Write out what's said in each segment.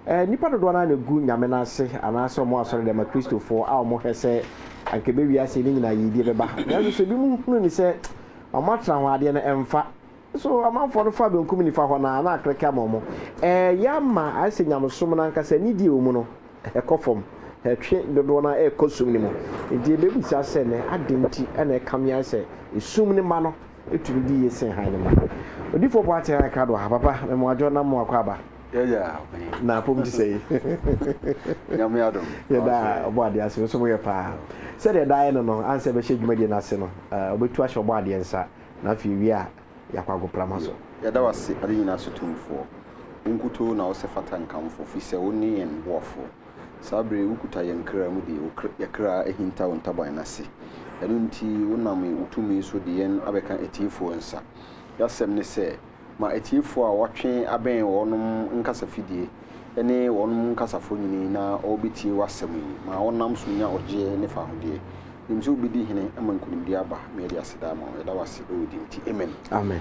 nnipa dodoɔ no ara na ɛgu Nyame no ase, anaasɛ wɔn asɔredɛm, Akristofoɔ, a wɔhwɛ sɛ anka ɛbɛwie aseɛ ne nyinaa yiedie bɛba. Nanso sɛ binom hunu no sɛ wɔn atra ho adeɛ no ɛmfa. So amanfoɔ no fa benkum nifa hɔ no ara na akrɛkɛ ama wɔn? Ɛɛyɛ ama ayɛ sɛ nyamesom no ankasa anidie a ɛwɔ mu no ɛkɔ fam, ɛtwe dodoɔ no ara ɛkɔ sum no mu. Enti yɛbɛbisa sɛ nnɛ, adɛn nti na ɛkame ayɛ sɛ esum no mma no Tumi di yie sen hann mma. Odifoɔ Boateng ayɛ krado aha papa me mo adwo na mo akɔ aba. Na apom te sɛi. Yɛda Ɔbɔadeɛ ase me nso mo yɛ paa. Sɛdeɛ ɛdaa yɛ no no ansɛ bɛhyɛ dwumadie no ase no ɔbɛtu ahyɛ Ɔbɔadeɛ nsa na afei ewie a yɛakɔ agoprama so. Yɛda wo ase ade nyinaa so tumfoɔ. Wo nkutoo na wosɛ fata nkamfo fisɛ wone yɛn boafoɔ. Saa bere yi wukuta yɛn kra mu de, yɛn kra ahintaw ntaban no ase. Ɛno nti, wonam wo tumi so de yɛn abɛka atiefo nsa. Y'asɛm ne sɛ, ma atiefo a wɔatwe abɛn wɔnom nkasa fidie ne wɔnom nkasafo nyini na wɔbetie w'asɛm yi. Ma wɔnam so nya ɔgyeɛ ne fahodeɛ. Menim sɛ wobedi hene ma nkunimdie aba. Meɛde aseda ama wo. Yɛda w'ase wɔ din nti. Amen. Amen.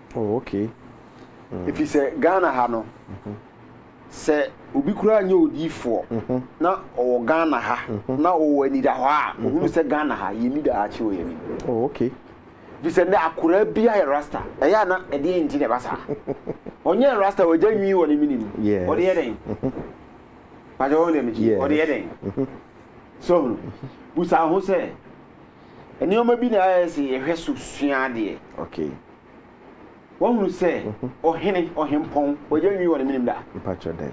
Oh okay. Efisɛ Ghana ha no, sɛ obi koraa nyɛ odiyifoɔ na ɔwɔ Ghana ha na ɔwɔ anidahɔ a, ɔhunu sɛ Ghana ha, yɛnni daakye wɔ yɛn anim. Oh okay. Efisɛ nnɛ akoraa biara yɛ Rasta. Ɛyɛ a na ɛdeɛn nti na ɛba saa? Ɔnyɛɛ Rasta, wagya nwi wɔ ne mene mu. Yes. Ɔde yɛ dɛn? Pakyɛ woahu deɛ mekye? Yes. Ɔde yɛ dɛn? So ɔhunu? Busa wo ho sɛ, nneɛma bi na ayɛ sɛ yɛhwɛ so sua adeɛ. Okay. Wahunu sɛ ɔhene, ɔhempɔn, ogya nwi wɔ ne menem da? Mpakyɛ dɛn?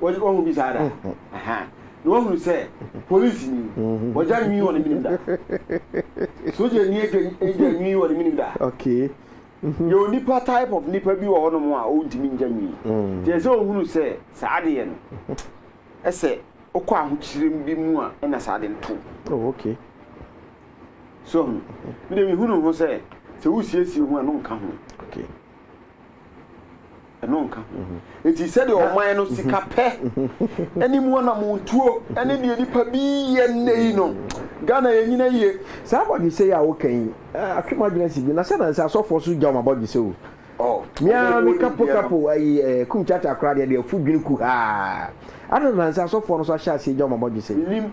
Wahunu bi saa da? Aha. Na wahunu sɛ polisi ni, ogya nwi wɔ ne menem da? Sogya ni agya nwi wɔ ne menem da? Okay. Mm-hmm. Yɛ onipa type of nipa bi wɔ hɔ nom a ɔntumi ngya nwi. Mm. Tiɛ sɛ ɔhunu sɛ saa adeɛ no, ɛsɛ ɔkɔ ahokyerem bi mu a ɛna saa adeɛ no to. Oh, okay. So ɔho? Me deɛ mehunu ho sɛ sɛ wosiesie ho a ɛno nka ho. Ɛno nka ho. Eti sɛdeɛ ɔman no sika pɛ ɛne mu anamontuo ɛne deɛ nipa bi yɛ nnɛ yi no Ghana yɛ nyina yie. Saa abɔdwesɛ yi a woka yi atwe m'adwene si bi na sɛ na nsɛ asɔfoɔ so gya wɔn abɔdwesɛ o. Oh, Mea me kapo kapo ayi eh, kum kyakya koraa deɛ deɛ afu dwene kuhaa. Adɛn na nsɛ asɔfoɔ no so ahyɛ aseɛ gya wɔn abɔdwesɛ yi? Menim.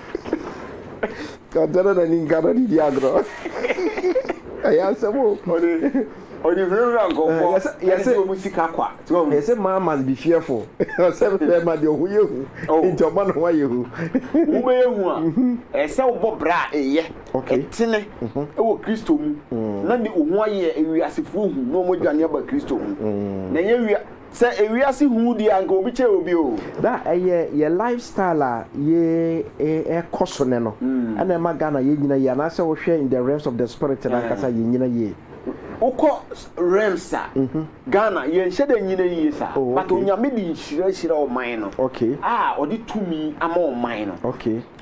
Ɔtɔ no na ni nka no didi agorɔ. Ɛyɛ asɛm o. Ɔde ɔde hunahuna nkɔfoɔ. Yɛsɛ yɛsɛ wɔn sika kwa. Yɛsɛ man must be fearful. Ɔsɛ fɛ ma deɛ ɔho yɛ hu. Nti ɔma ne ho ayɛ hu. Wo bɛ yɛ hu a. Ɛsɛ wo bɔ bra a ɛyɛ. Ɛtene ɛwɔ Kristo mu. Na de wo ho ayɛ ewiasefoɔ hu na wɔn adwane aba Kristo ho. Na ɛnyɛ wia. Sɛ ewiase hu wo di a anka obi kyɛɛ obi o. Na ɛyɛ yɛ life style a yɛkɔ so nnɛ no na ɛma Ghana yɛ nyina yie anaasɛ wo hwɛ in the realms of the spirit no ankasa yɛ nyina yie? Wo kɔ realms a Ghana yɛ nhyɛ da nyina yie saa but Onyame de nhyira ahyira ɔman no a ɔde tumi ama ɔman no.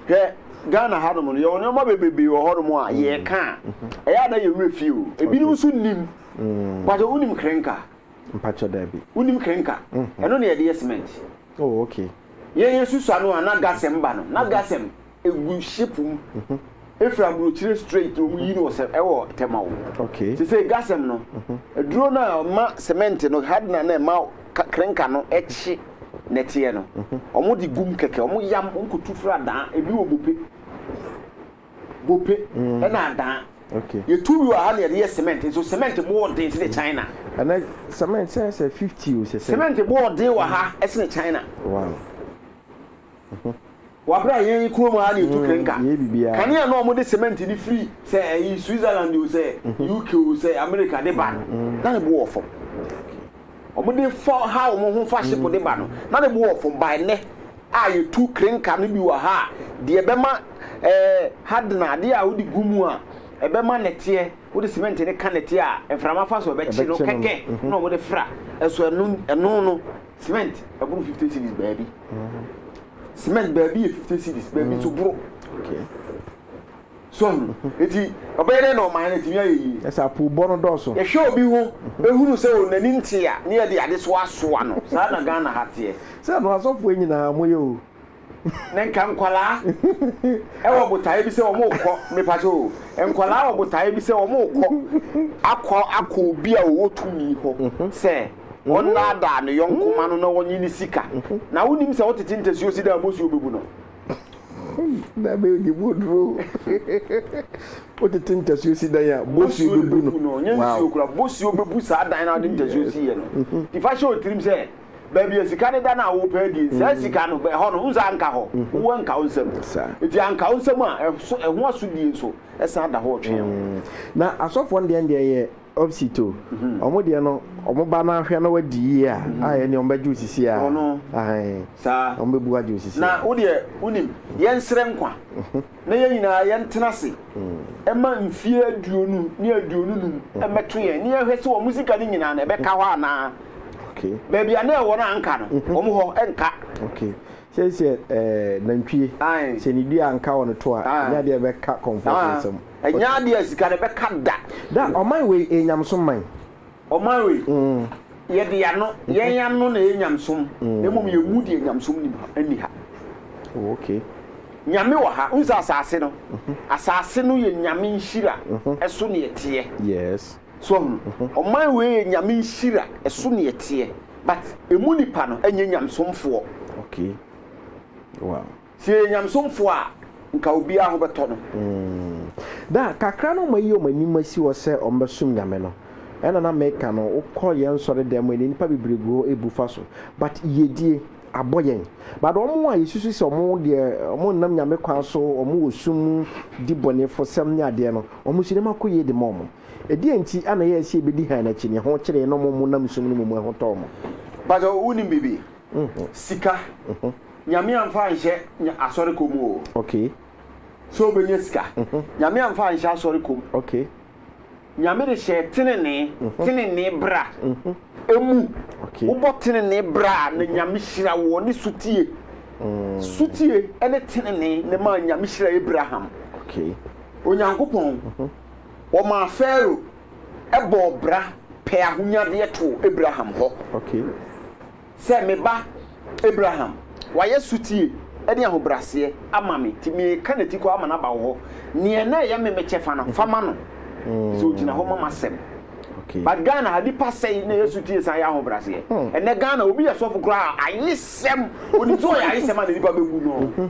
Hwɛ Ghana ha nom no yɛ wɔ nnoɔma bebrebee wɔ hɔ nom a yɛ ka a ɛyɛ a na yɛ werɛ fie o ebinom nso nnim mpakyɛ wo nim krenka? Mpakyɛ dabi. Wonim krenka? Ɛno na yɛde yɛ cement. Oh okay. Yɛn yɛ susu ano a na gasɛm ba no na gasɛm egu ship mu efiri aburokyire straight na wɔn yi no wɔ sɛ ɛwɔ tɛmaw. Okay. Sesei gasɛm no aduro no a ɛma cement no hardener na ɛma krenka no ɛkye nɛteɛ no wɔn de gum kɛkɛ wɔn yam wɔn kɔ tu firi adaa ebi wɔ bope. Gope na adan. Okay. Yɛtu bi wɔ ha na yɛde yɛ cement nso cement bo ɔden sene China. Ɛnɛ cement sɛn sɛ fifty o sɛ sɛ. Cement bo ɔden wɔ ha ɛsene China. Wow. Wabra yɛn kurom ha na yɛtu mm, krenka. Yɛ biribiara. Kanea na wɔde cement de firi sɛ ɛyi Switzerland o sɛ mhm. UK o sɛ America de ba no mm, mm. na ne bo wɔ fam. Wɔde fa ha wɔn ho fa ship de ba no na ne bo wɔ fam ba ɛnɛ. a yetu krenka no bi wɔ ha a, deɛ ɛbɛma ɛɛ hardener, adeɛ a wode gu mu a ɛbɛma nɛteɛ, wode cement no ka nɛteɛ a mframa fa so a ɛbɛkye no kɛkɛ na wɔde fra. Ɛso ɛno ɛno no, cement ɛboro fifty cedis baabi. Cement baabi yɛ fifty cedis, baabi nso boro. So hu. Enti, ɔbɛyɛ dɛn na ɔman no atumi ayɛ yie? Ɛsɛ sɛ apoobɔ no dɔɔso. Yɛhwɛ obi ho hunu sɛ o n'ani nteɛ a, na yɛde ade soa soa no. Saa na Ghana ha teɛ. Sɛ no asɔfoɔ nyinaa mo yɛ o. Na nka nkwadaa wɔ botaeɛ bi sɛ wɔn rekɔ, mepakyɛ o, nkwadaa wɔ botaeɛ bi sɛ wɔn rekɔ akɔ akɔ obi a ɔwɔ tumi hɔ sɛ ɔnnaadaa ne yɔnko mma no na ɔnye no sika. Na wonim sɛ wotete ntasuo si da a, bosuo bɛbu no. Nana yɛ odiboduro wotete ntasuo si dan a bosuo bɛbu no no nyɛ nsuo kora bosuo bɛbu saa dan no ade ntasuo si yɛ no nti fa hyɛ otirim sɛ baabi a sika no da no a wopɛ adie saa mm. sika no ɛhɔ no wonsa anka hɔ mm-hmm. wowɔ anka wo nsɛm nti anka wo nsɛm a ɛho asodie nso ɛsan da hɔ ɔtwe mm. na asɔfoɔ no deɛ deɛ yɛ Opsit o ɔmo deɛ no ɔmo ba no ahwɛ na wadi yie a a ɛneɛ ɔmo bɛgye wo sisi a Ɔno ahen saa ɔmo bɛbu agye wo sisi na a. wodeɛ wonim yɛnsrɛ nkwa na yɛn nyinaa yɛntena ase ɛma mfie aduonu ne aduonu num mmɛto yɛn na yɛnhwɛ sɛ ɔmo sika no nyinaa no ɛbɛka hɔ anaa Okay baabi a na ɛwɔ no anka no ɔmo hɔ ɛnka. okay Sei sɛ ɛɛ nantwie. Ae. Sɛ ne dua anka wɔ ne to a, ɛnyɛ adeɛ a ɛbɛka kɔmfoɔ so nsam. Ae. Ɛnyɛ adeɛ a sika no bɛka da. Da, ɔman wei ɛyɛ nyamesom man. Ɔman wei, yɛde yɛn ano, yɛn ano na ɛyɛ nyamesom, na mmom yɛn mu deɛ nyamesom nnim ha, nni ha. Oh, okay. Nyame wɔ ha. Wohu sɛ asaase no, asaase no yɛ Nyame nhyira, ɛso na yɛteɛ. Yes. So wahu? Ɔman wei yɛ Nyame nhyira, ɛso na yɛteɛ, but ɛmu nnipa no nyɛ nyamesomfoɔ. Okay. Wow. Sɛ yɛyɛ nyamesomfoɔ a, nka obiara ho bɛtɔ no. Mm. Da, kakra na wɔayi wɔn anim asi hɔ sɛ wɔbɛsom Nyame no, ɛna na meka no, wokɔ yɛn nsɔre dan mu a, nnipa bebree gu hɔ ɛbu fa so, but yiedie, abɔ yɛn. But wɔn a yɛsusu sɛ wɔn deɛ wɔn nnam Nyame kwan so, wɔn wɔ sum mu di bɔnefosɛm ne adeɛ no, wɔn nso nneɛma kɔ yie de ma wɔn. Ɛdeɛn nti na ɛyɛ sɛ yɛbɛdi hann akyi? Nea ɛho kyere yɛn na wɔn nam sum no mu mu ɛho tɔɔ wɔn. Mpakyɛw, wonim biribi? Sika. Nyame amfa anhyɛ asɔre kɔ mu o. Sɛ wobɛnya sika. Nyame amfa anhyɛ asɔre kɔ mu. Nyame de hyɛɛ tenenee, tenenee bra, mu. Wobɔ tenenee bra a, na Nyame hyira wo, ɔne sotie. Sotie ne tenenee na ɛmaa Nyame hyira Abraham. Onyankopɔn, ɔmaa Farao bɔɔ bra pɛɛ ahonyadeɛ too Abraham hɔ. Sɛ me ba Abraham, wayɛ sotie ne ahobrɛaseɛ ama me, enti mereka n'atikɔ ama no aba wo hɔ. Deɛ na ɛyɛ me me kyɛfa no, fa ma no, ɛfiri sɛ ɔgyina hɔ ma m'asɛm. But Ghana ha nipa sɛe na ɛyɛ sotie san yɛ ahobraseɛ ɛnɛ Ghana obi yɛ sɔfo koraa ayesɛm onim sɛ ɔyɛ ayesɛm a na nipa bɛbu no.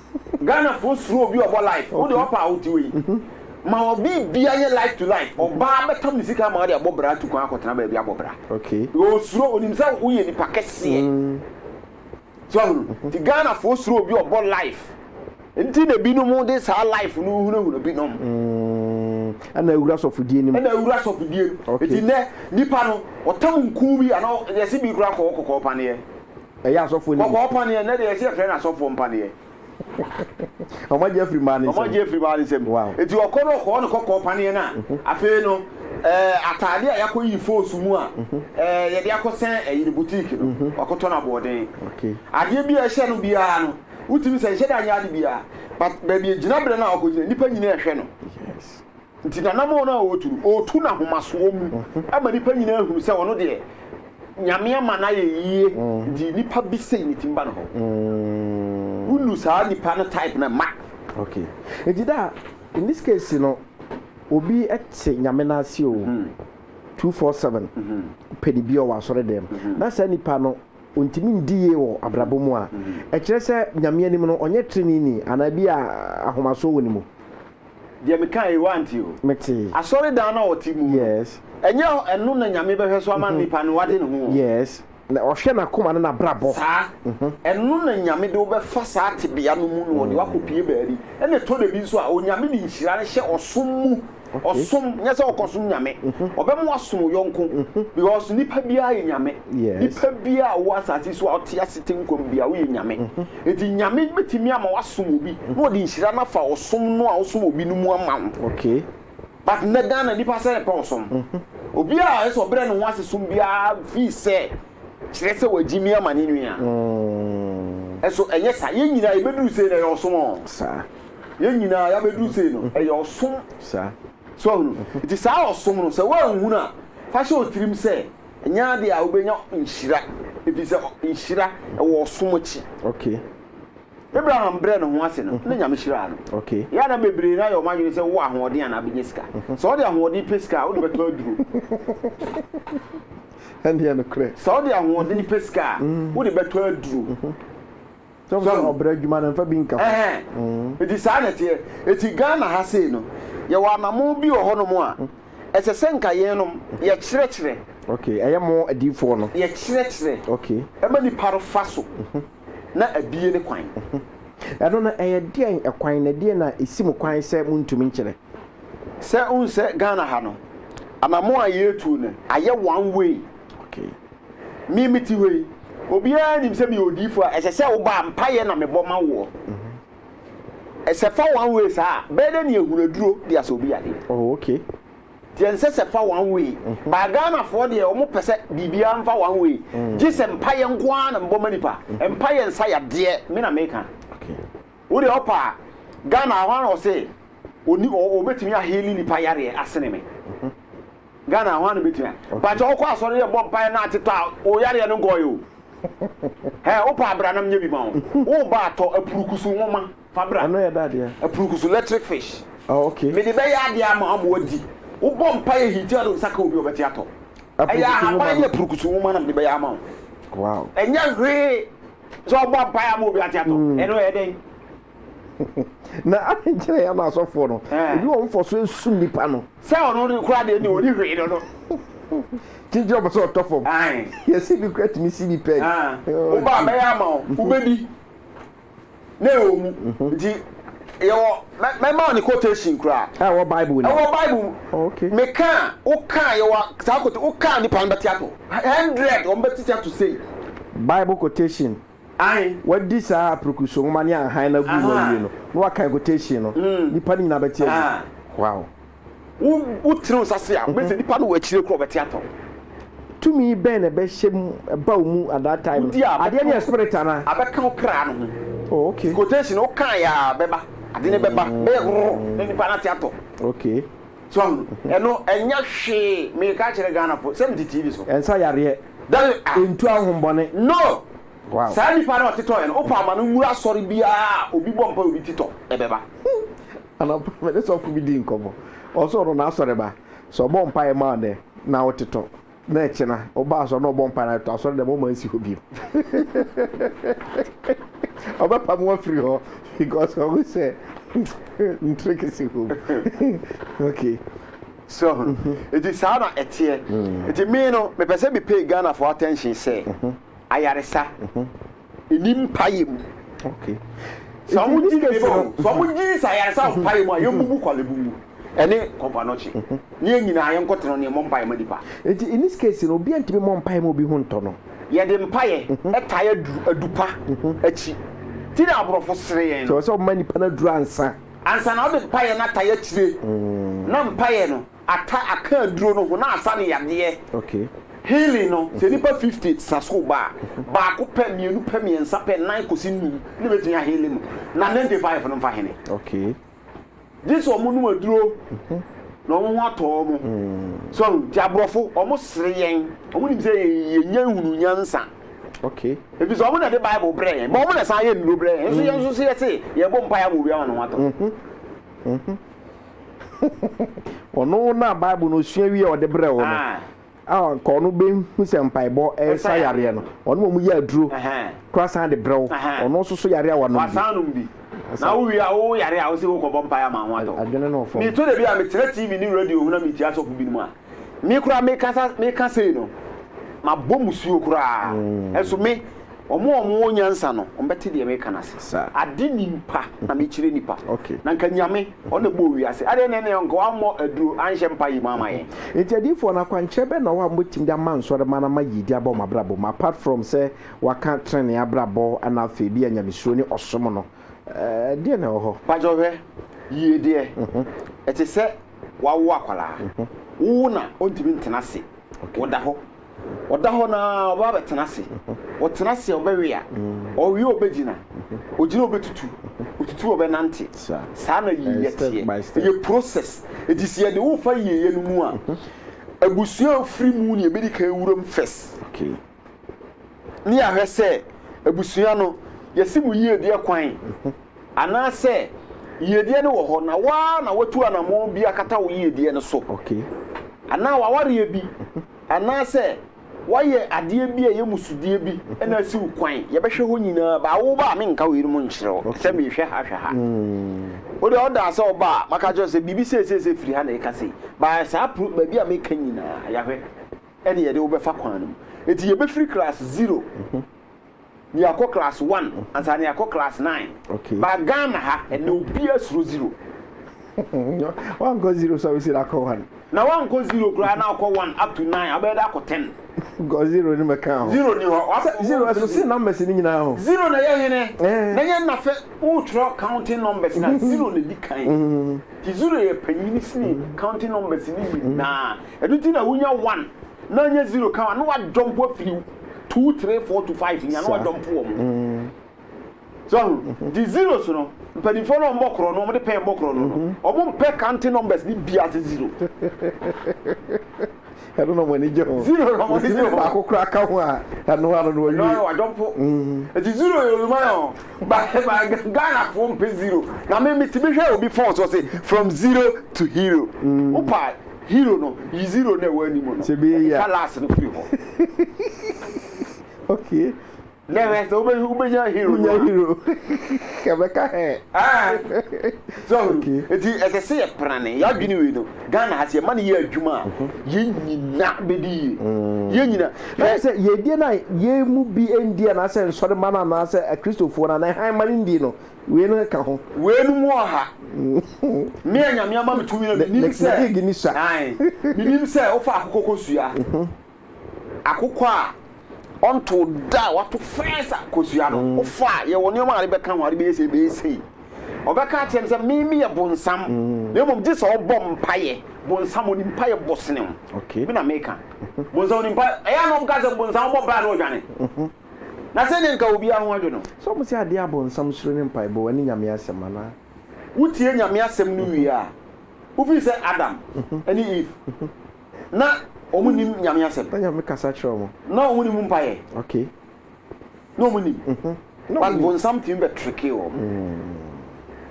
Ghana foɔ suro obi ɔbɔ live wo deɛ ɔpɛ a wote wei ma wɔ biribiara nyɛ live to live ɔbaa bɛtam ne sika ama ɔde abɔ bra atu kwan akɔtena baabi abɔ bra ɔsuro onim sɛ woyɛ nipa kɛseɛ so ahunu ti Ghana foɔ suro obi ɔbɔ live nti na binom de saa live no hunahuna binom ɛna awura sɔfodie nim ɛna awura sɔfodie nti nɛ nipa no ɔtam nkuu bi anaa yɛse bi kora kɔɔ kɔkɔɔ paneɛ Ɛyɛ asɔfoɔ no bi. Kɔkɔɔ paneɛ, nnɛ deɛ yɛse yɛfrɛ no asɔfoɔ mpaneɛ. Wɔn agye afiri mmaa no nsam. Wɔn agye afiri mmaa no nsam. Wow. Enti wɔkɔ no wɔkɔɔ no kɔkɔɔ paneɛ no a, afei no ɛɛ ataadeɛ a yɛakɔyi foosu mu a ɛɛ yɛde akɔsɛn ɛyi no boutique no, wakɔtɔ no aboɔden. Okay. Adeɛ bi a ɛhyɛ no biara no, wotumi sɛ nhyɛ da nyɛ ade biara, but baabi a gyinaberɛ no a ɔkɔgyina, nnipa nyinaa ɛhwɛ no. Yes. Nti n'anammɔn no a ɔretu no, ɔretu no ahomasoɔ mu ma nnipa nyinaa hunu sɛ ɔno deɛ, Nyame ama no ayɛ yie, nti nipa bi sei ne ti mma no hɔ. Wonu saa nipa no type no mma. Ok, nti da a, in this case no, obi te Nyame no ase o, two four seven, pɛ ne bi ɔwɔ asɔredɛm mu, na saa nipa no ɔntumi ndi yie wɔ abrabɔ mu a, ɛkyerɛ sɛ Nyame anim no ɔnyɛ treneeni anaa bi a ahomasoɔ wɔ ne mu? Deɛ meka yi, woante o. Mete. Asɔredan no a ɔte mu no. Yes. Ɛnyɛ ɛno na Nyame bɛhwɛ so ama nipa no wade ne ho o. Yes. Na ɔhwɛ n'akoma ne n'abrabɔ. Saa. Ɛno na Nyame de wo bɛfa saa tebea no mu na ɔde wo akɔpue baabi. Ɛna ɛtɔ dabi nso a, Onyame de nhyira no hyɛ ɔsom mu. Ɔsom, nyɛ sɛ ɔkɔsom Nyame. Ɔbɛma woasom wo yɔnko. Because nipa biara yɛ Nyame. Yes. Nipa biara a ɔwɔ asase so a ɔte ase te nkwa mu biara, woyɛ Nyame. Enti Nyame bɛtumi ama woasom obi na ɔde nhyira no afa ɔsom no a wosom obi no mu ama wo. But nnɛ Ghana nnipa sɛn pɛ ɔsom. Obi a ɛsɛ ɔbrɛ ne ho ase som biara feel sɛ kyerɛ sɛ wagyimi ama ne nua. Ɛso ɛnyɛ saa? Yɛn nyinaa yɛbɛduru sei no ɛyɛ ɔsom ɔ. Yɛn nyinaa yɛabɛduru sei no ɛyɛ ɔsom. So ahunu? Nti saa ɔsom no sɛ woanhunu a fa hyɛ wo tirim sɛ. Ɛnyɛ adeɛ a wobɛnya nhyira, ɛfiri sɛ nhyira ɛwɔ ɔsom akyi. Okay. Abraham brɛ ne ho ase no na Nyame hyiraa no. Okay. Yɛ na bebree na yɛ wɔn adwene sɛ wowɔ ahoɔden anaa bɛnya sika. Mhm. Sɛ wode ahoɔden pɛ sika a wode bɛtɔ aduro. Ɛndeɛ no korɛ. Sɛ wode ahoɔden pɛ sika a mhm. wode bɛtɔ aduro. Mhm. So hu? Ɔbrɛ adwuma no mfa bi nka ho. Ɛhɛn. Enti saa na ɛteɛ. Enti Ghana ha sei no, yɛwɔ anamon bi wɔ hɔnom a, ɛsɛ sɛ nka yɛnom yɛkyerɛkyerɛ. Ok, ɛyɛ mo adiyifoɔ no. Yɛkyerɛkyerɛ. Ok. Ɛma nipa no fa so na abie ne kwan. Ɛno no, ɛyɛ deɛn kwan, na deɛn na ɛsi mo kwan sɛ montumi nkyerɛ? Sɛ wohu sɛ Ghana ha no, anammɔn a yɛretu no, ayɛ one way. Me mete hɔ yi, obiara nim sɛ meyɛ odiyifo a ɛsɛ sɛ woba a mpaeɛ na mebɔ ma woɔ. Sɛ fa one way saa a, bɛyɛ dɛ ne ahunaduro de asɛ obi yadeɛ. Oh, okay. Deɛ nsɛ sɛ fa one way. Mm-hmm. Baa Ghanafoɔ deɛ wɔn pɛ sɛ biribiara mfa one way. Mm. Gye sɛ mpaeɛ nko ara na mbɔ ma nipa. Mm-hmm. Mpaeɛ nsa yadeɛ me na meka. Okay. Wo deɛ ɔpa a Ghana ahɔ ara na ɔsɛ ɔni ɔ ɔbɛtumi a heali nipa yareɛ asene me Ghana ahɔ ara na ɔbɛtumi a bakyɛ ɔkɔ asɔre yɛ bɔ mpaeɛ na ate tɔ a wo yareɛ no nkɔɔyɛ o hɛ wo pa abra nam nyɛ bi ma wo wo ba atɔ apurukusu nwoma fa bra Ɛno yɛ da adeɛ. apurukusu electric fish Oh, okay. mede bɛyɛ adeɛ ama ama wadi wo bɔ mpaeɛ hiti ado nsa ka obi a ɔbɛte atɔ ɛyɛ Apurukusu nwoma ahaban no. ne apurukusu nwoma na mede bɛyɛ ama wo Wow. ɛnyɛ hwee sɛ ɔbɔ mpae ama obi ate atɔ mm. ɛno ɛyɛ dɛn na ade nkyerɛ yɛ ama asɔfoɔ no ebi wɔn fɔ so esum nipa no sɛ ɔno de kura deɛ ne ɔni hwee no no kyinkyin ɔpɛ sɛ ɔtɔ fam yɛsi bi kura tumi si bi pɛn wobaa bɛyɛ ama wo wobɛdi Na ɛwɔ mu. Nti yɛwɔ mɛma wo ne quotation koraa. Ɛwɔ Bible mu. Ɛwɔ Bible mu. Oh, okay. Me kaa wo kaa yɛwɔ saa quotation wo kaa nipa no bɛte ato hundred wɔn bɛte te ato sei. Bible quotation. Ayi. Wadi saa aprokuso nwoma ne ahan na gu na wie no na wakan quotation no. Mm. Nipa no nyinaa bɛte agu. Wow. Wotene wo nsa ase a, wobɛsɛ nnipa no wɔ akyire koraa wɔbɛte atɔ wo. Tumi bɛn na ɛbɛhyɛ mu ɛba wo mu at that time no? Wodi a, Adeɛ no yɛ spirit anaa? abɛka wo kra no ho. Oh okay. Quotation, wokaeɛ a bɛba, ade no bɛba, bɛyɛ rrrr na nnipa no ate atɔ. Okay. So wahu? Ɛno ɛnyɛ hwee, meka kyerɛ Ghanafoɔ sɛ mete TV so. Ɛnsa yareɛ, That is ah, ɛntu ahombɔne. no! Wow. Saa nnipa no a ɔte tɔeɛ no, wopɛ ama no nwura asɔre biara a obi bɔ mpaeɛ a obi ti tɔ, ɛbɛba. Anɔpa me ne sɔfo bi dii nkɔmmɔ. Ɔsoo no n'asɔreba. Sɛ ɔbɔ mpae ma wo nnɛ, na wotetɔ, na ɛkyena woba asɔre na ɔbɔ mpae na wotetɔ, asɔre dɛm ɔmma nsi hɔ bio. Ɔbɛpam wo afiri hɔ because ɔhu sɛ ntrek si hɔ mu. Okay. So ɔho? Enti saa na ɛteɛ. Enti me no, mepɛ sɛ me pay Ghanafoɔ attention sɛ, ayaresa. ɛni mpaeɛ mu okay sɛ ɔmo gyi ne bɔ sɛ ɔmo gyi sa ayaresa wɔ mpaeɛ mu a yɛn bubu kwalebu mu ɛne kɔmpanɔkye ne yɛn nyinaa yɛn nkɔ tena ne yɛn mɔ mpaeɛ ma nipa nti in this case no obi antumi mɔ mpaeɛ ma obi ho ntɔ no yɛde mpaeɛ ɛtae adu adupa akyi ti na aborɔfo sere yɛn no sɛ ɔma nipa no aduru ansa ansa na ɔde mpaeɛ no atae akyire na mpaeɛ no Ata aka aduro no ho na asa ne yadeɛ. Healing no, sɛ nnipa fifty sa sukuu ba a, baako pɛ, mmienu pɛ, mmiɛnsa pɛ, nnan kɔsi nnum na ɛbɛtumi aheale mo, na ninety five no mfa hene. Gye sɛ wɔnom aduro na wɔn ho atɔ wɔn. So ahu? Nti aborɔfo, wɔsere yɛn. Wɔnim sɛ yɛnnya nhunuu nyansa. Ɛfiri sɛ wɔn na ɛde Bible brɛɛ yɛn, but wɔn na ɛsan yɛ nnuro brɛ yɛn. Nso yɛn nso so yɛse yɛbɔ mpaeɛ ama obi ama ne ho atɔ. Ɔno na Bible no osua wie a ɔde brɛɛ wo no. A nka ɔno bɛhu sɛ mpaebɔ ɛsa yareɛ no. Ɔno wɔn yɛ aduro kora san de brɛ wo. Ɔno nso so yareɛ a wanom bi. Wasan nom bi. Na wo wie a wo yare a wo se wo kɔbɔ mpae ama ho atɔ. Adwene no fam. Meto da bi a metena TV ne radio ho na metie asɔfo binom a. me koraa mekasa meka sei no mabɔ musuo koraa ɛnso me wɔn a wɔn wɔ nyansa no wɔn bɛte deɛ meka no ase ade nipa na mekyerɛ nipa na nka nyame ɔna bɔɔ wiase adeɛ na ɛne nka wammɔ aduro anhyɛ mpa yi mu ama yɛn nti adiifoɔ no akwankyerɛ bɛ na ɔwɔ a mobɛtumi de ama nsɔre ma no ama yiedi abɔ wɔn abrabɔ mu apart from sɛ waka trenee abrabɔ ana afei bi a nyamesuro ne ɔsom no ɛɛ deɛ na ɛwɔ hɔ. Pakyɛ hwɛ yiedeɛ ɛte sɛ wawo akwadaa. Wowo no a, ɔntumi ntena ase. Ɔda hɔ. Ɔda hɔ no ara, ɔbɛba abɛtena ase. Ɔtena ase a, ɔbɛwe a. Ɔwe a, ɔbɛgyina. Ɔgyina a, ɔbɛtutu. Ɔtutu a, ɔbɛnante. Saa na yieyɛ teɛ. Ɛyɛ process. Enti sɛ yɛde wo fa yieyɛ no mu a, abusua a wofiri mu na yɛbɛdi kan awuram first. ne yɛahwɛ sɛ abusua no yɛsi mu yiedie kwan anaasɛ yiedie no wɔ hɔ na waa na watu anammɔn bi akata wo yiedie no so anaa wawareɛ bi anaasɛ wayɛ adeɛ bi a ɛyɛ musudeɛ bi ɛna asi wo kwan yɛbɛhwɛ hɔ nyinaa baa wo ba a menka wei no mu nkyerɛ wo sɛ mehwɛ ha hwɛ ha hmm. wode ɔdaa sɛ ɔba a maka kyerɛ sɛ biribi seeseesɛ firi ha na ɛka sei baa saa baabi a meka nyinaa yɛahwɛ ɛne yɛde wo bɛfa kwan no mu. Enti yɛbɛfiri class zero na yɛakɔ class one ansa na yɛakɔ class nine. Okay. Ba Ghana ha ɛnna obiara suro zero. wankɔ zero sɛ wosi na akɔ one. Na wankɔ zero koraa na akɔ one up to nine abɛyɛ dɛ akɔ ten. Because zero ni mɛka ho. Zero ni hɔ. Wafɔ zero ɛso si numbers ni nyinaa ho. Zero na yɛ hene. Eh. Na yɛ nafɛ wotwerɛ counting numbers na zero na di kan. Ti zero yɛ panyini sini counting numbers ni nyinaa. Ɛno nti na wonya one na anya zero ka ho a na wadɔ mpo afiri wo two three four to five nya na wadɔ mpo wɔn. Mm. So ahu mm-hmm. di zeros no mpanimfoɔ no ɔmmɔ korɔ no ɔmde pɛn mmɔ korɔ no mm-hmm. ɔmo mpɛ counting numbers ne bia se zero. ɛno na ɔmani gye ho zero na ɔmani gye ho baako kora ka ho a ɛno ano no ɔyɛ ɛno wadɔ mpo ɛti mm. zero yɛ oluma yɛ ho ba ba Ghana foɔ mpɛ zero na me me ti bi hwɛ obi fɔn so ɔse from zero to hero. Mm. Opa Hero no, yi zero no a ɛwɔ anim no, twa last no firi hɔ. Okay. Na ɛhwɛ sɛ wobɛ wobɛnya hero. Wonya hero. Kɛbɛka hɛ. So, eti ɛsɛ sɛ yɛprane yɛadwene wei no. Ghana ha sɛ yɛma no yɛ adwuma a, mhm. yɛn nyina bɛdi yie. Mm. Yɛn nyina. Ɛyɛ sɛ yɛdie no a yɛn mu bi ndie anaasɛ nsɔre ma no anaasɛ akristofoɔ no anaa hann ma no ndie no, Wei no ka ho. Wei no mu ɔha. Me a Nyame ama me tumi no, menim sɛ. League ni sua. Ae, menim sɛ wofa akokɔ kɔ sua. Akokɔ a ɔnto da a wato first a kɔ sua no, wofa a, yɛwɔ nneɛma a ade bɛka ho, ade bɛyɛ sei, bɛyɛ sei. Ɔbɛka akyerɛ no sɛ, me meyɛ bonsam, na mmom gye sɛ ɔbɔ mpaeɛ. Bonsam, ɔnim mpaeɛ bɔ sene wo. Me na meka. Bonsam ɔnim mpaeɛ. Ɛyɛ a na wɔka sɛ bonsam bɔ mpaeɛ a na ɔdwane. Na sɛnea anka obiara ho adwo no. Sɛ wɔse adeɛ a bonsam suro ne mpaebɔ, ɛne Nyame asɛm anaa? Wotie Nyame asɛm no wie a, wofiri sɛ Adam ne Eve, na wɔn nnim Nyame asɛm. Na Nyame kasa kyerɛ wɔn. Na wɔn nni mu mpaeɛ. Okay. Na wɔn nnim. But bonsam tumi bɛ trickee wɔn.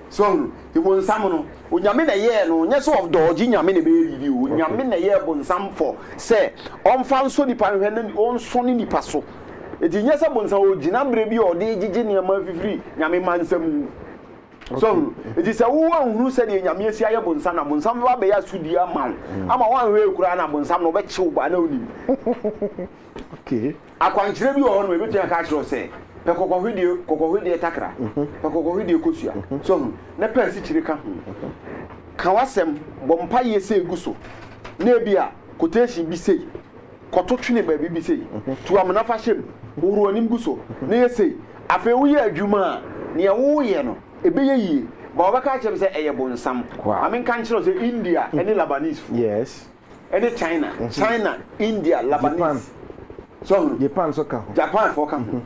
So hu? Nti bonsam no, Onyame na ɛyɛɛ no, nyɛ sɛ ɔdɔɔgye Nyame na ɛbɛyɛ biribi o, Onyame na ɛyɛɛ bonsam fɔ sɛ ɔmfa nsɔ nipa nhwɛ na ɔnsɔ ne nipa so. Nti nyɛ sɛ bonsam ɔgyina berɛ bi a ɔde gyegye nneɛma afifiri Nyame mma nsa mu. So hu? Nti sɛ wo anhunu sɛdeɛ Nyame asi ayɛ bonsam na bonsam bɛba abɛyɛ asodie ama wo, ama woanhwɛ yɛ koraa na bonsam no ɔbɛkye wo baa na wonim. Okay. Akwankyerɛ bi wɔ hɔnom a ebetumi aka akyerɛ wo sɛ, pɛ kɔkɔhwedeɛ, kɔkɔhwedeɛ takra, pɛ kɔkɔhwedeɛ kosua. So ahu? Na pɛ asikyire ka ho. Ka w'asɛm, bɔ mpaeɛ sei gu so, na ebia quotation bi sei, kɔto twene baabi bi sei, tu amena fa hyɛ mu, hohoro w'anim gu so, na yɛ sei. Afei woyɛ adwuma a, nea woreyɛ no, ɛbɛyɛ yie. But wɔbɛka akyerɛ me sɛ ɛyɛ bonsam. Wow. Ma menka nkyerɛ wo sɛ India ne Labanesefoɔ. Yes. ɛne china china india labanese so ho japan so ka ho japan fo ka ho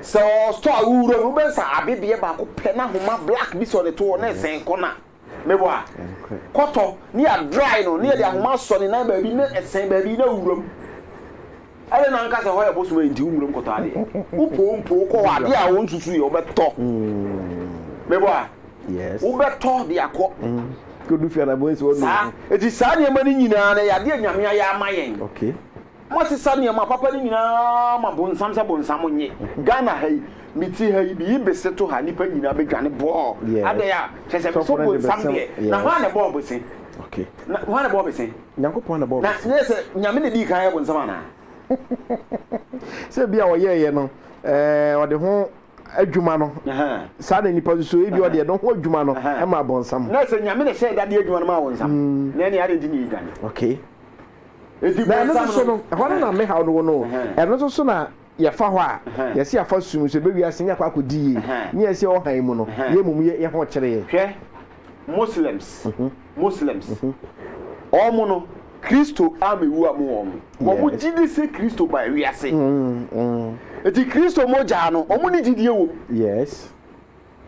sɛ ɔ store a wowura mu wobɛn sɛ abebeɛ baako pɛ na homa black bi sɛ ɔde to hɔ na ɛsɛn kɔ na mebɔ a kɔtɔ ne yɛ dry no ne yɛde ahoma asɔ ne nan baabi na ɛsɛn baabi na wura mu Adɛn na anka sɛ hɔ yɛ bosom a enti wommram nkɔtɔ adeɛ? Wopoo mpo wokɔ hɔ a, adeɛ a wonsusuiɛ wobɛtɔ. Mebɔ a, wobɛtɔ de akɔ. Saa. Enti saa nneɛma no nyinaa no, ɛyɛ adeɛ a Nyame ayɛ ama yɛn. Moasesa nneɛma papa no nyinaa ma bonsam sɛ bonsam nnye. Ghana ha yi, mete ha yi, meyi bese to ha, nnipa nyinaa bɛdwane bɔɔl. Adɛn a, kyerɛ sɛ, bese bonsam deɛ. Na hwan na ɛbɔɔ bese? Hwan na ɛbɔɔ bese? Nyankopɔn na bɔɔ me so. Na sɛ Nyame na dii kan yɛ bonsam anaa? Sɛ ebia ɔyɛeɛ no, ɛɛ, ɔde ho adwuma no, saa na nnipa susu, ebia ɔde ɛno ho adwuma no maa bonsam. Na sɛ Nyame na hyɛɛ da de adwuma no maa bonsam, na ɛneɛ adɛn nti na yɛdwane? Okay. Enti bonsam no. Na ɛno nso so no, ɛhɔ no na me haw no wɔ no o, ɛno nso so na Yɛfa hɔ a, yɛse yɛafa sum nso ɛbɛ wiase nyɛ akɔ akɔdi yie ne yɛn se ɔhan mu no yɛ mmom yɛ yɛ ho kyere yɛ. Hwɛ Moslems, Muslims, wɔn no Kristo ammɛwu amu wɔn, wɔn gye di se Kristo baa wiase, enti Kristo mogyaa no wɔn ne gyidie wɔ mu. Yes.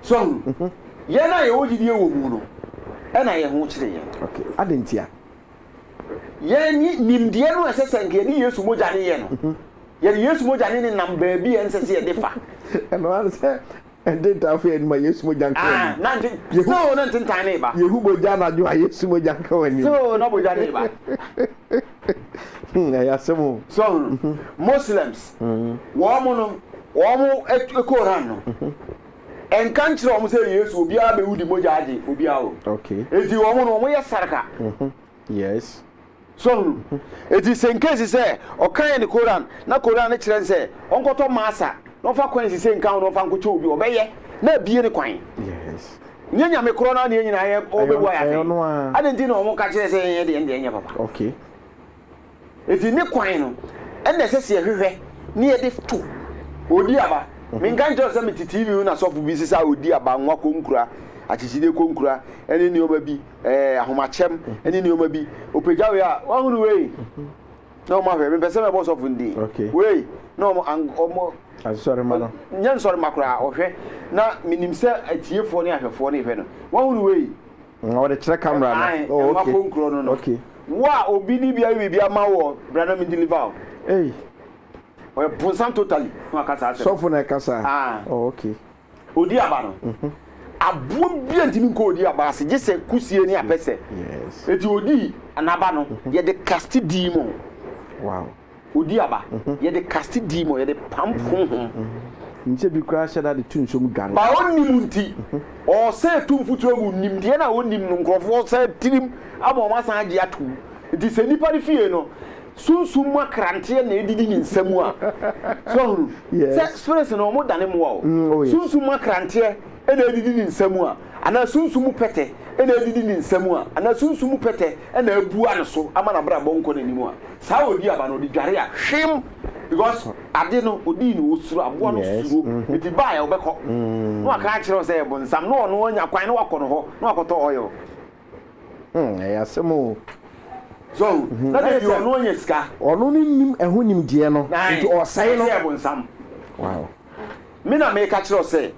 So ahu? Yɛn a yɛwɔ gyidie wɔ mu no na yɛn ho kyere yɛn. Ok, adɛn ntia? Yɛn ni, nimdeɛ no a ɛsɛ sɛ nka yɛde Yesu mogya no yɛ no, yɛde Yesu mogya no nenam baabi a ɛnsɛ sɛ yɛde fa. Ɛno ara ne sɛ ntentan fa anim a Yesu mogya nka w'anim. Ah, na nte, still na ntentan no reba. Yɛhu bogya anadwo a Yesu mogya nka w'anim. Still na bogya no reba. Hmm, ɛyɛ asɛm o. So ahu? Muslims, wɔn no. Wɔn Koran no nka nkyerɛ wɔn sɛ Yesu obiara bɛwu de mogya agye obiara wɔ mu. Okay. Eti wɔn no wɔn yɛ sarka. Mhm. Yes. So hunu. Mhm. Eti sɛ nkesi sɛ ɔka yɛ ne Koran na Koran no kyerɛ sɛ ɔnkɔtɔ masa na ɔfa kwan sise nka ho na ɔfa nkɔkyɛ obi ɔbɛyɛ na abie ne kwan. Yes. Nyɛ nyame korɔ no adeɛ nyinaa yɛ ɔbɛbua yɛ afei. Ɛyɛ ɔno a. Adan ti na wɔn ka kyerɛ sɛ yɛn yɛ deɛ ɛndeɛ nyɛ papa. Okay. Enti ne kwan no na ɛsɛ sɛ yɛhwehwɛ na yɛde to. Odi aba. Menka nkyerɛ wo sɛ mete TV ho na sɔfo bi sesa odi aba, nwa konkura, akyekyide konkura, ne nneɛma bi, ɛɛ, ahomakyɛm, ne nneɛma bi. Ɔpagyaw yɛ a, woahunu wei? Na wɔn ahwɛ, mempɛ sɛ mɛbɔ sɔfo no din. Okay. Wei, na wɔn, an, wɔn, Asɔremma no. nyɛ nsɔremma koraa, ɔhwɛ. Na menim sɛ atiefoɔ ne ahwɛfoɔ no rehwɛ no. Woahunu wei? Mm, wɔde kyerɛ camera no. Ae, Oh, ɛma okay. konkurɔ no no. Okay. Wo a obi de bi ayɛ biribi ama wo wɔ bra na me deliver o. Ei, Ɔyɛ bonsam totally na waka saa asɛm. sɔfo na ɛka saa. Ah. Oh, okay. Odi aba no. Aboa bi a ntumi nkɔ odi aba ase gye sɛ kusie ne apɛsɛ. Yes. Eti odii n'aba no yɛde kasti dii mu. Wow. Odi aba. Yɛde kaste di ma yɛde pam honhom. Nhyɛ bi koraa hyɛ da de to nsuo mu dware. Ba ɔnnim nti, ɔresɛe to mfuturo mu. Nimdeɛ no a ɔnnim no, nkurɔfoɔ san tirim ama wɔn asan agye atom. Nti sɛ nipa no fie no, sunsum mu akranteɛ na ɛdidi ne nsa mu a, so wahunu? Sɛ spirits no, wɔdane mmoa o. Sunsum mu akranteɛ na ɛdidi ne nsa mu a, anaa sunsum mu pɛtɛ na ɛdidi ne nsa mu a, anaa sunsum mu pɛtɛ na abua ne so ama n'abrabɔ nkɔ n'anim a, Saa a ɔdi aba no ɔde dware a hwem because ade no ɔdii no ɔsuro aboa no suro nti baa yɛ ɔbɛkɔ na waka akyerɛ wo sɛ yɛ bonsam na ɔno anya kwan na wakɔ no hɔ na wakɔtɔ oil. Hmm ɛyɛ asɛm oo. So hu na deɛ deɛ ɔno anya sika. Ɔno no nnim ɛho nimdeɛ no nti ɔsɛe no. Nti ɔsɛe no sɛ yɛ bonsam. Wow. Me na mereka kyerɛ wo sɛ,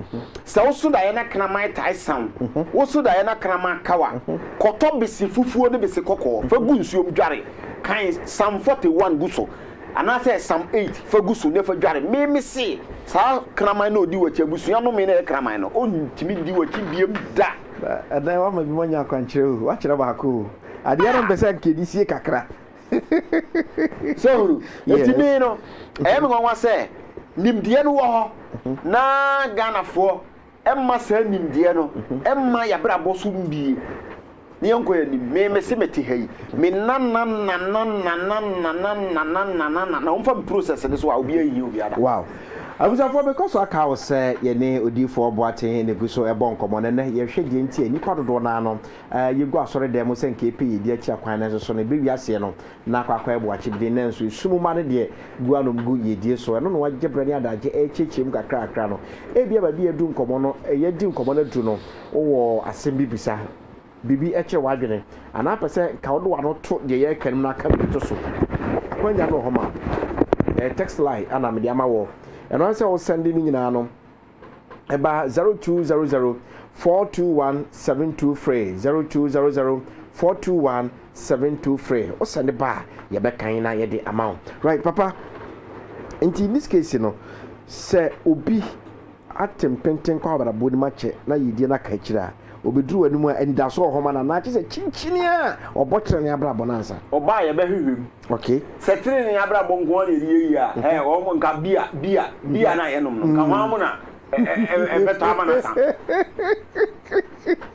sɛ wo so daeɛ na kraman tae sa wo, wo so daeɛ na kraman ka wo a, kɔtɔ bese fufuo ne bese kɔkɔɔ, fa gu nsuom dware. Kan Psalm 41 gu so, anaasɛ Psalm 8 fa gu so na fa dware. Me mese, saa kraman no a ɔdi w'akyi, abusua nnome na ɛyɛ kraman no, ɔntumi di w'akyi biom da. Ɛnnɛ woama bi moanya akwankyerɛ o, woakyerɛ baako o. Adeɛ no mpɛ sɛ anka ɛdi sie kakra. So hunu? Enti me no, ɛyɛ me nwanwa sɛ nimdeɛ no wɔ hɔ na Ghanafoɔ mma saa nimdeɛ no mma y'abrabɔ so mmue. Ne yɛnkɔ y'anim. Me mese mete ha yi, me nanana, wɔmfa me process no so a, obiara nhia obiara da. Wow. Abusuafoɔ, mekɔ so aka wo sɛ yɛne Odiyifoɔ Boateng na ɛgu so ɛrebɔ nkɔmmɔ, na nnɛ yɛrehwɛ deɛ nti a nnipa dodoɔ no ara no Aa yegu asɔredan mu sɛ nka yɛpɛ yɛn di akyira kwan nanso so no ɛbɛ wiaseɛ no na akɔ akɔ ɛbo akye beden nanso esum mma no deɛ gu anom gu yiedie so ɛno na wa gye berɛ ne adagye ɛrekyerɛkyerɛ mu kakra kakra no ebia baabi yɛadu nkɔmɔ no yɛadi nkɔmɔ no aduru no wo wɔ asem bi bisa biribi ɛkyerɛ w'adwene anaa pɛ sɛ nka wode w'ano to deɛ yɛreka no mu na ka biribi to so akwanya no wɔ hɔ ma wo ɛyɛ text line a na mede ama woɔ ɛno ara ne sɛ wo sɛnde ne nyinaa no ɛba 0200 421 72 frɛ 0200 421 72 frɛ wo sɛ ne ba a yɛbɛkan na yɛde ama wo right papa nti in this case no sɛ obi ate mpenten kɔ abrabɔ no mu akyɛ na yɛdie no aka akyiri a obɛduru w'anim a anidaso wɔ hɔ ma no anaa kyɛ sɛ kyinkyini a ɔbɔ kyerɛ ne abrabɔ no ansa ɔba a yɛbɛhwehwɛ mu Okay. Sɛ trenee abrabɔ nko ara na yɛde yɛ yie a, ɛ, wɔn nka bia, bia, bia na yɛnom no, nka hwan mu na ɛ, ɛ, ɛ, ɛbɛtɔ ama no asa.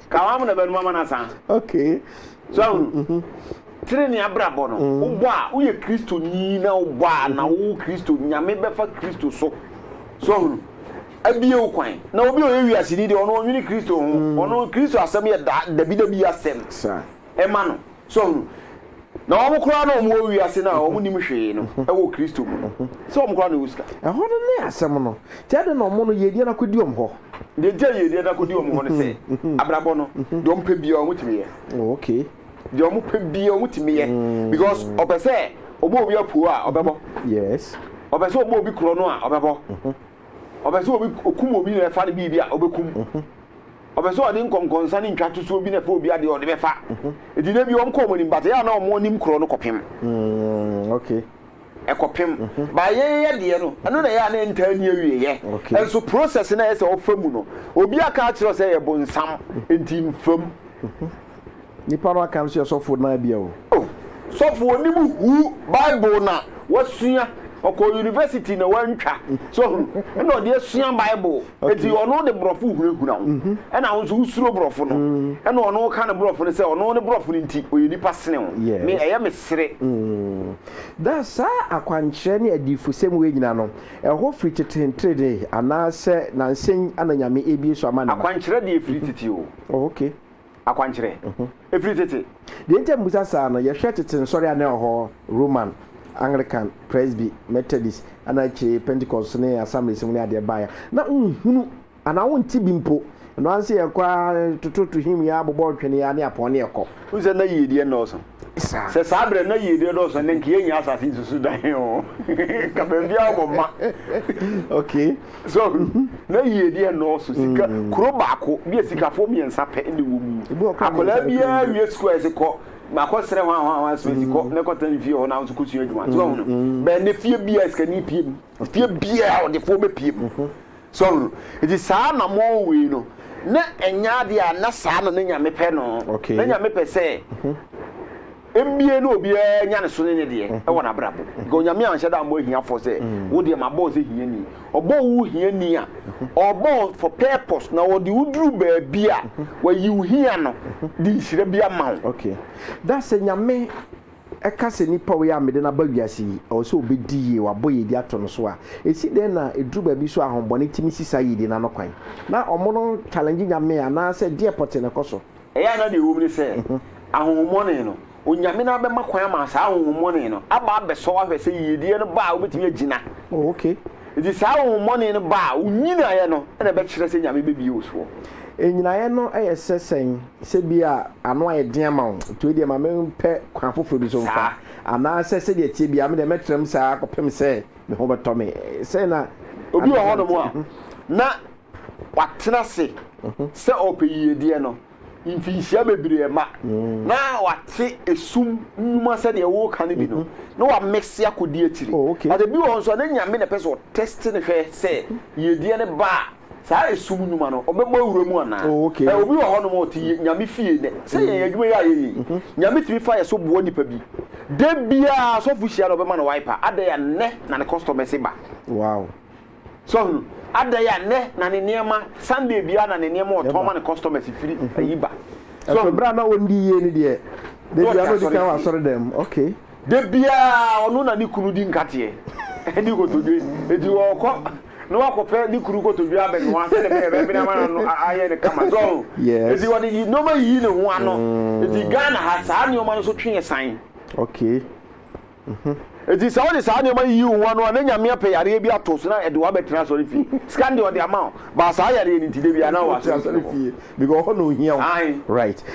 Ka hwan mu na ɛbɛnom ama no asa. Okay. So ahunu. Trenee abrabɔ no, wobɔ a, woyɛ Kristoni na wobɔ a, na wowɔ Kristo, Nyame bɛfa Kristo so. So ahunu. Abie wo kwan. Na obi a ɔyɛ wiaseni deɛ, ɔno ɔnwene Kristo ho. Ɔno, Kristo asɛm yɛ da, dabidabi asɛm. Saa. ma no. So ɔho? Na wɔn koraa na wɔn wɔ wiase no a wɔn nim hwee no wɔ Kristo mu no, sɛ wɔn koraa na wɔwɔ sika. Ɛhɔ no ne asɛm no. Nti adɛn na wɔn no yiedie no akɔdi wɔn hɔ? Deɛ nti a yiedie no akɔdi wɔn hɔ ne sɛ, abrabɔ no, deɛ wɔn pɛ biara wɔn tumi yɛ. Oh, okay. Deɛ wɔn pɛ biara wɔn tumi yɛ, because ɔpɛ sɛ ɔbɔ obi apuo a ɔbɛbɔ. Yes. Ɔpɛ sɛ ɔbɔ obi korɔ no a ɔbɛbɔ. Ɔpɛ sɛ obi okum obi na ɛfa no biribi a ɔbɛkum. Ɔpɛ sɛ ɔde nkɔnkɔnsa ne ntwatosoɔ bi na ɛfa obi adeɛ a ɔde bɛfa. Enti na bi wɔn kɔ wɔn anim but ɛyɛ a na wɔn anim korɔ no kɔpem. Mm, okay. Ɛkɔpem. Mm-hmm. Ba yɛn yɛ deɛ no, ɛno na ɛyɛ a na ɛntaa ni awieɛ. Okay. Ɛnso process na ɛyɛ sɛ ɔfa mu no, obi aka akyerɛ sɛ ɛyɛ bonsam, enti mfam. Mm-hmm. Nipa no aka no so yɛ sɔfo naa bia o. Oh sɔfo onim huu bible na wasua ɔkɔ university na wantwa so hunu ɛna ɔde asua bible eti ɔno de borɔfo hunahuna ho ɛna wo nso wosuro borɔfo no ɛna ɔno woka ne borɔfo no sɛ ɔno ne borɔfo no nti ɔyɛ nipa sene wo me ɛyɛ me sere da saa akwankyerɛ ne adiyifosɛm wei nyina no ɛhɔ firi tete ntrede anaasɛ nansɛn ana nyame ebie so ama ne ma akwankyerɛ deɛ firi tete o oh okay akwankyerɛ firi tete. Deɛ enti a mebisa saa no, yɛhwɛ tete nsɔre a na ɛwɔ hɔ, Roman, Anglican, Presby, Methodist, ɛna akyire Pentecost ne Assemblies mu ne adeɛ baeɛ a, na wonhunu anaa wonte bi mpo. Ɛno ara ne sɛ yɛkɔ ara, yɛtototo hymn yi ara, bobɔ ntwene yi ara ne apɔn ne yɛkɔ. Wohu sɛ na yiedie nnɔɔso. Sɛ saa berɛ na yiedie dɔɔso ɛnɛ nka yɛnnya asase yi susu dan o nka baabiara wɔ ma okay so na yiedie nnɔɔso sika mm. kuro baako bi a sikafoɔ mmiɛnsa pɛ ne wɔ mu akwadaa biara wie sukuu a yɛsi kɔ makɔ serɛ hɔ ahoa ahoa so asi kɔ mm. na kɔtena ne fie hɔ na ahosuo kɔsua adwuma so ɔhono mm. bɛn ne fie biara sikani pie mu Fie biara ɔdefoɔ bɛpue mu. So ɔho? Nti saa na mowɔ wei no, na ɛnyɛ adeɛ a na saa na ne Nyame pɛ no. Na Nyame pɛ sɛ mmie no obiara nya ne so ne ne deɛ wɔ n'abrabɔ mu. Because Onyame anhyɛ da ammɔ ahiafoɔ sɛ wo deɛ mabɔ wo sɛ hiani. Ɔbɔɔ wo hiani a, ɔbɔ wo for purpose na ɔde wo duru baabi a, wayi wo hia no de nhyira bi ama wo. Okay. That's sɛ Nyame Ɛka sɛ, Nipa a ɔyɛ a mede no aba wiase yi, ɛwɔ sɛ ɔbɛdi yie, wabɔ yiedie ato no so a, ɛsi dɛn na ɛduru baabi so a ahonbɔne tumi si saa yiedie no ano kwan? Na wɔn no challenge Nyame anaasɛ deɛ pɔtee na ɛkɔ so? Ɛyɛ a na deɛ ɛwom ne sɛ, ahonhommɔne no, Onyame no ara bɛma kwan ama saa ahonhommɔne no aba abɛsɔ ahwɛ sɛ yiedie no ba a wobɛtumi agyina. Oh, ok. Enti saa ahonhommɔne no ba a, wo nyinaeɛ no na ɛbɛkyerɛ sɛ Nyame bɛbue wo soɔ. Nnyinaeɛ no yɛ sɛ sɛn? Sɛbia ano ayɛ den ama wo, nti wei deɛ ma mempɛ kwan foforɔ bi so mfa, anaasɛ sɛdeɛ ɛteɛ biara me deɛ mɛtena mu saa ara kɔpem sɛ me ho bɛtɔ me. Sɛn na Obi wɔ Adama hɔnom a, te? na watena ase sɛ ɔrepɛ yiedie no mfinhyia bebree mma. Na wate esum nnwuma sɛdeɛ woreka no bi no, na wamese akɔdi akyire. Oh, okay. But ebi wɔ hɔ nso a, na Nyame na ɛpɛ sɛ ɔtɛste no hwɛ sɛ yiedie no ba a, Saa esum nnwuma no, ɔbɛbɔ awura mu anaa? Oh, okay. Ɛ, obi wɔ hɔnom a ɔte Ye- Nyame fie nnɛ. Sɛ yɛn adwuma yi a yɛyɛ yi, Nyame tumi fa yɛ so boa nipa bi. Da biara sɔfo hyia no, ɔbɛma no wiper. Adɛn a nnɛ na ne customers ba? Wow. So ɔhunu? Adɛn a nnɛ na ne nneɛma, Sunday biara na ne nneɛma a ɔtɔn Ɛba. ma ne customers firi ayi ba? So Ɛso ɔhunu? bere a na ɔndi yie no deɛ, da Na ɔte biara na ɔdi kan wɔ asɔrefie. asɔredan mu. Okay. Da biara ɔno na ne kunu di nkateɛ, ne nkotodwe. Enti ɔkɔ na wakɔpɛ ne kuru kotodwe abɛnoa sɛdeɛ ɛbɛyɛ ɛbɛbene ama n'ano ayɛ no kama so ɔho nti wɔde nneɛma yiyi ne ho ano nti mm. Ghana ha saa nneɛma no so twe yɛ san okay nti mhm. sɛ wode saa nneɛma yiyi wo ho ano a na nyame apɛ yareɛ bi ato so na ɛde wabɛtena asɔre fie sika deɛ ɔde ama wo baa saa yareɛ no nti da bia na wɔ asɔre fie because ɔhɔ na ohia wo right